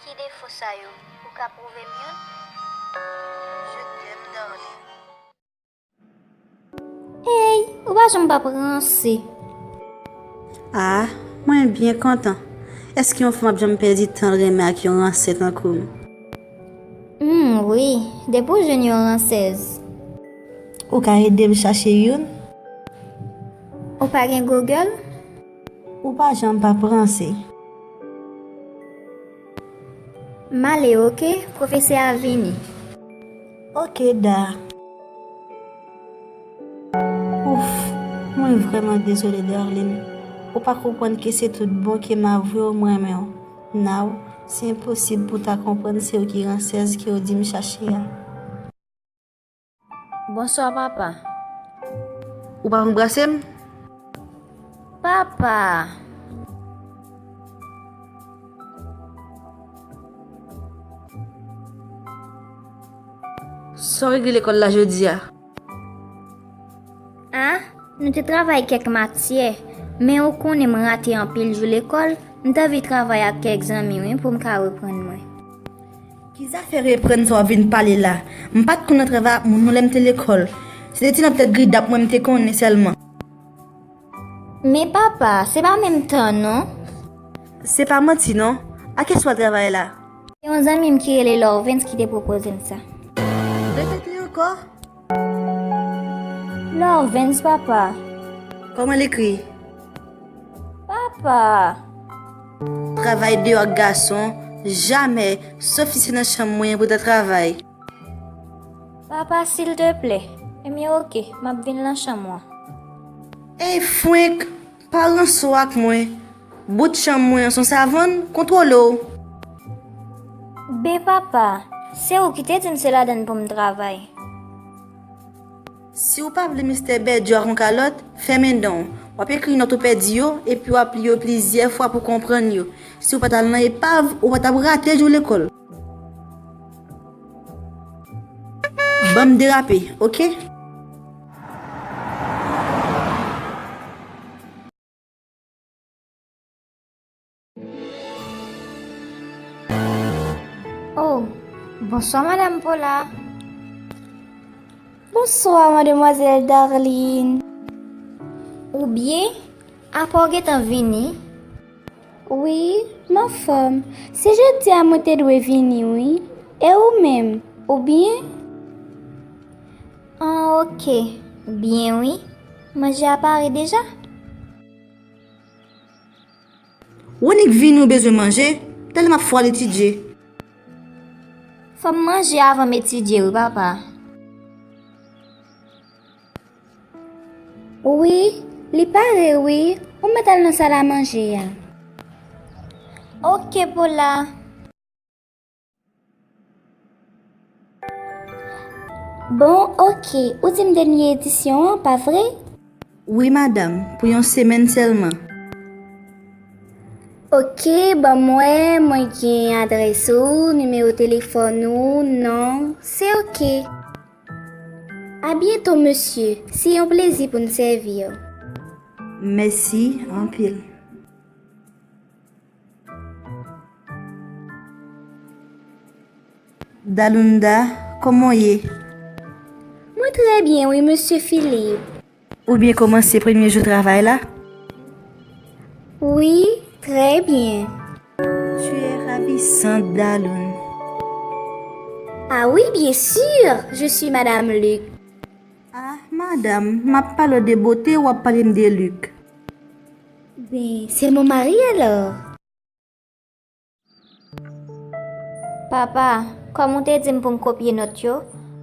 Ki defo sa yo? Ou ka prouve m youn? Je t'aime darling. Eyy ou pa janm pap ranse. Ah mwen byen kontan. Eske yon fanm ap janm pèdi tanl renmen ak yon ranse tankoum. Humm wi depi ou jwenn yon ransez. Ou ka edem chache youn? Ou pa gen Google? Ou pa janm pa p ranse. M ale ok, pwofesè a vini. Ok Da. Ouff, mwen vrèman dezole Darline. Ou pa konprann ke se tout bon ke m avwe w m renmen w. Now, se enposib pou w ta konprann se w ki ransèz ke w di m chache a. Bonswa papa. Ou pa anbrase m? Papa! Sa w regle lekòl la jodi a? A, nou te travay kèk matyè, men ou konnen m rate anpil jou lekòl, m t anvi travay ak kèk zanmi wi pou m ka reprann mwen. Ki zafè reprann sa w ap vin pale la? M pa t konn nan travay ak moun non lè m te lekòl. Se te ti nan tèt gridap mwen m te konnen sèlman. Men papa, se pa menm tan non. Se pa manti non. A kiyès w al travay la? Se yon zanmi m ki rele Lorvens ki te pwopoze m sa. Repete ankò. Lorvens papa. Koman l ekri? Papa. Travay deyò ak gason, jamè, sof si se nan chanm mwen pou ta travay. Papa silteplè. Ebyen ok, m ap vin lan chanm ou an. Ey fwenk! Pa ranso ak mwen. Bout chanm mwen an son savann, kontwole w. Bpapa, se ou ki te di m se ladann pou m travay. Si w pa vle Mistè Bèdyo ak yon kalòt, fèmen dan w. W ap ekri nòt ou pèdi yo, epi w ap li yo plizyè fwa pou w konprann yo. Si w pa t al nan epav, ou pa t ap rate jou lekòl. Banm derape ok. Oh bonswa madam pola. Bonswa mademwazèl darline. Ou byen? Apa ou gentan vini? Wi, m anfòm. Se jodi a mwen te dwe vini wi. E ou menm, ou byen? An ok, byen wi. Manje a pare deja? Ou annik vini ou bezwen manje? Tèlè m ap fwa al etidye. Fò m manje avan m etidye wi papa. Wi, li pare wi, ou mèt al nan sal a manje a. Ok Pola. Bon ok, ou di m dènye edisyon an, pa vre? Wi madam, pou yon semèn sèlman. Ok, ban mwen, mwen gen adrès ou, nimewo telefòn ou, non, se ok. A byento mesye, se yon plezi pou n sèvi w. Mèsi anpil. Dalunda, kòman w ye? Mwen trè byen wi mesye Philippe. Ou byen komanse premye jou travay la? Wi, trè byen. Tu es ravissante, Daloun. Ah wi, byen sur, je suis Madame Luc. Ah, madam, m ap pale w de bote, w ap pale m de Luc. Ben, c'est mon mari alors. Papa, kòm ou te di m pou m kopye nòt yo,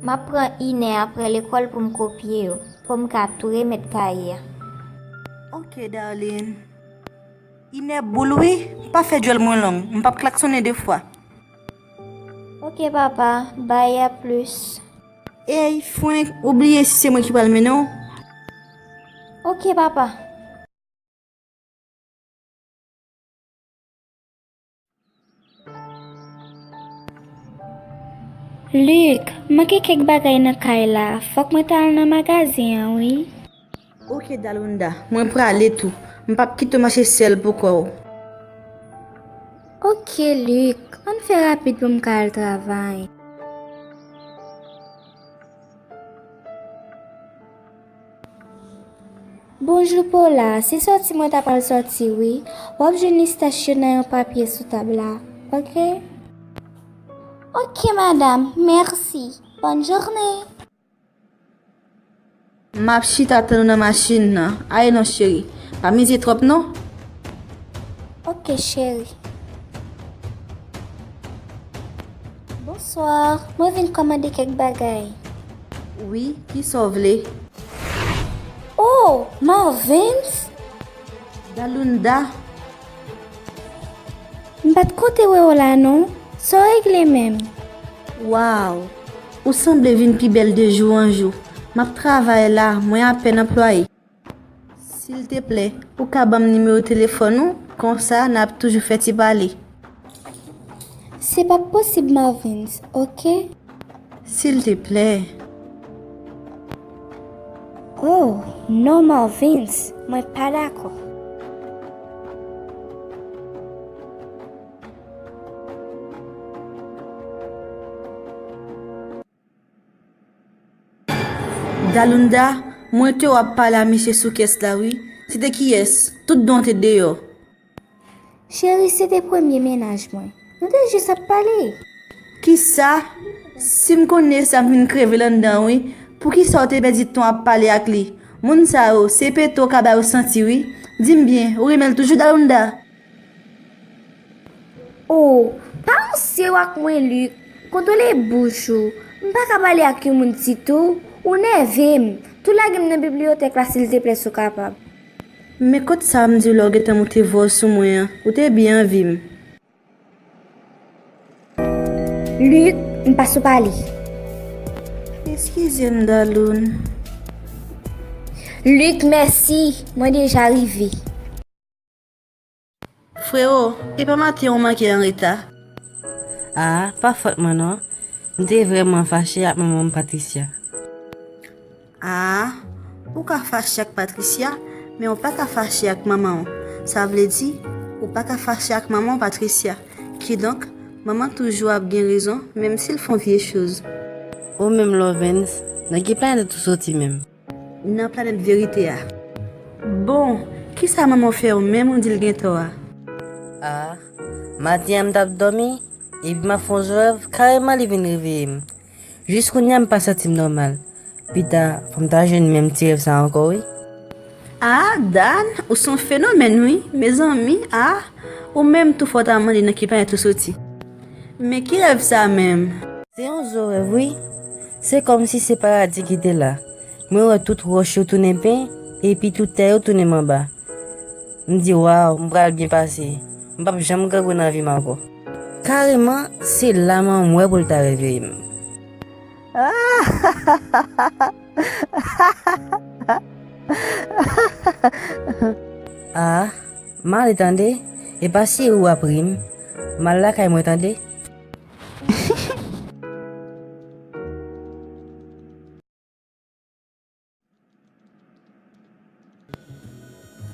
m ap pran inè apre lekòl pou m kopye yo, pou m ka tou remèt kaye a. Ok, darling. Inè boul wi, pa fè djòl mwen long, m p ap klaksonnen de fwa. Ok, papa. Bay, a plis. Ey, frenk, ou bliye si se mwen ki pral mennen w? Ok, papa. Luc, manke kèk bagay nan kay la, fòk mwen ta al nan magazin an wi. Ok Dalunda, mwen prale tou, m pap kite w mache sèl poukò w. Ok Luc, ann fè rapid pou m ka al travay. Bonjou Paula, se sòti mwen ta pral sòti wi. Wap jwenn lis tach yo nan yon papye sou tab la. Ok. Ok madam, mèsi. Bòn journe. Map chita tann ou nan machin nan. Aye non cheri. Pa mize twòp non. Ok cheri. Bonsoir, mwen vin kòmande kèk bagay. Wi, ki sa w vle? Oh! Marvens! Dalunda! M pa t konte wè w la non. Sa w regle menm? Waw! Ou sanble vin pi bèl de jou an jou. M ap travay la, mwen apèn anplwaye. Silteplè, ou ka ban m nimewo telefòn ou? Konsa, n ap toujou fè ti pale. Se p ap posib Marvens, oke? Silteplè. O, non Marvens, mwen pa dakò. Dalunda, Mwen te w ap pale a misye sou kès la wi. Se te kiyès? Tout don te deyò. Cheri, se te premye mennaj mwen. Nou te jis ap pale. Kisa? Si m konnen sa m fin kreve landan wi. Poukisa w te pèdi tan ap pale ak li? Moun sa yo, se pete w ka ba yo santi wi. Di m byen, ou renmen l toujou Dalunda? O, pa ranse w ak mwen Luc, kontwole bouch ou, m pa ka pale ak yon moun sitou ou nève m, tou lage m nan bibliyotèk la silteplè si w kapab. Men kot sa m di w la ou gentan moute vwa w sou mwen an, ou te byen anvi m. Luc, m pa sou pale. Eskize m Daloun. Luc, mèsi, mwen deja rive. Frero, e pa maten ou manke anreta? Ah, pa fòt mwen non. M te vrèman fache ak manman m Patricia. Ah, ou ka fache ak Patricia, men ou pa ka fache ak manman w. Sa vle di, ou pa ka fache ak manman w Patricia. Kidonk, manman toujou ap gen rezon menm si l fon vye choz. Ou menm Lovens, nan ki planèt ou soti menm? Nan planèt verite a. Bon, kisa manman w fè w menm ou di l gen tò a? A, maten an m t ap dòmi, epi m ap fè yon rèv, kareman li vin reveye m. Jis kounya m pa santi m nòmal. Pita, fò m ta jwenn menm ti rèv sa ankò wi. A, Dan, ou s on fenomèn wi. Mezanmi, a, ou menm tou fò w ta mande nan ki planèt ou soti. Men ki rèv sa menm? Se yon zo rèv wi. Se kòmsi se paradi ki te la. Mwen wè tout wòch yo tounen pen, epi tout tè yo tounen manba. M di, Waw, m pral byen pase. M p ap janm grangou nan vi m ankò. Kareman, se la m anmwe pou l ta reveye m. A, m ale tande. E pa si ou ap ri m. M al lakay mwen tande.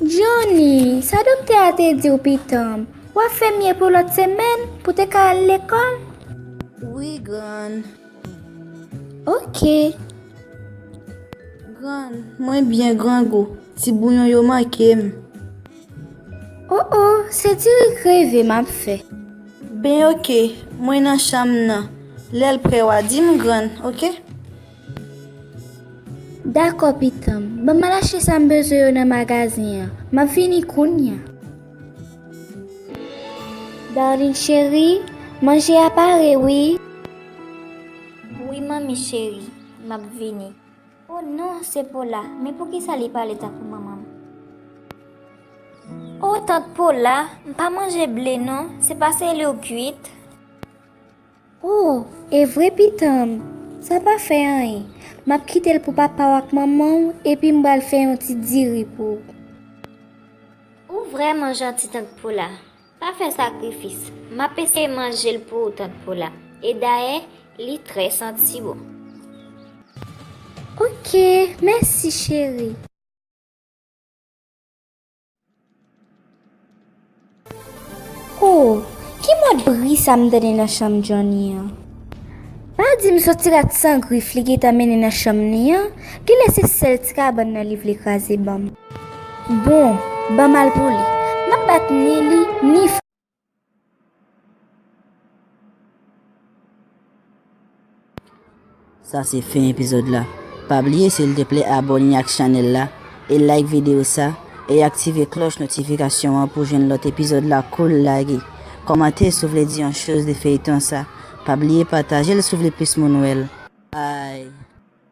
Jhonny, sa doktè a te diw pitanm, wap fè mye pou lòt semèn pou te ka al lekòl? Wi grann. Ok. Grann, mwen byen grangou, ti bouyon yo mankem. Oh oh se ti ri kreve m ap fè. Ben ok mwen nan chanm nan lè l prè wa di m grann ok. Dakò pitan m ban m al achte sa m bezwen yo nan magazen an m ap vini kounya. Darline cheri manje a pare wi. Wi manmi cheri m ap vini. O non se pola men poukisa li pale tankou manmanm. O tant pola m pa manje ble non se pa se li ou kuit. O evre pitanm sa pa fè anyen map kitel pou papaw ak manmanw epi m bal fè yon ti diri pou ou. Ou vrèman janti tant pola. Pa fè sakrifis. M ap eseye manje l pou ou tant Paula. E dayè, li trè santi bon. Ok, mèsi cheri. O, ki mòd bri sa m tande nan chanm Johnny an? Pa di m soti rat san grif li gentan mennen nan chanm li an? Genlè se sèl ti kabann nan li vle kraze ban m. Bon ban malpoli map bat ni li ni. Sa se fen epizod la. Pa bliye silteple abone ak chanel la e like video sa e aktive kloch notifikasyon an pou jwenn lot epizod la koul lage. Komante si w vle di yon choz de feyton sa. Pa bliye patajel si w vle plis moun wel. Bye.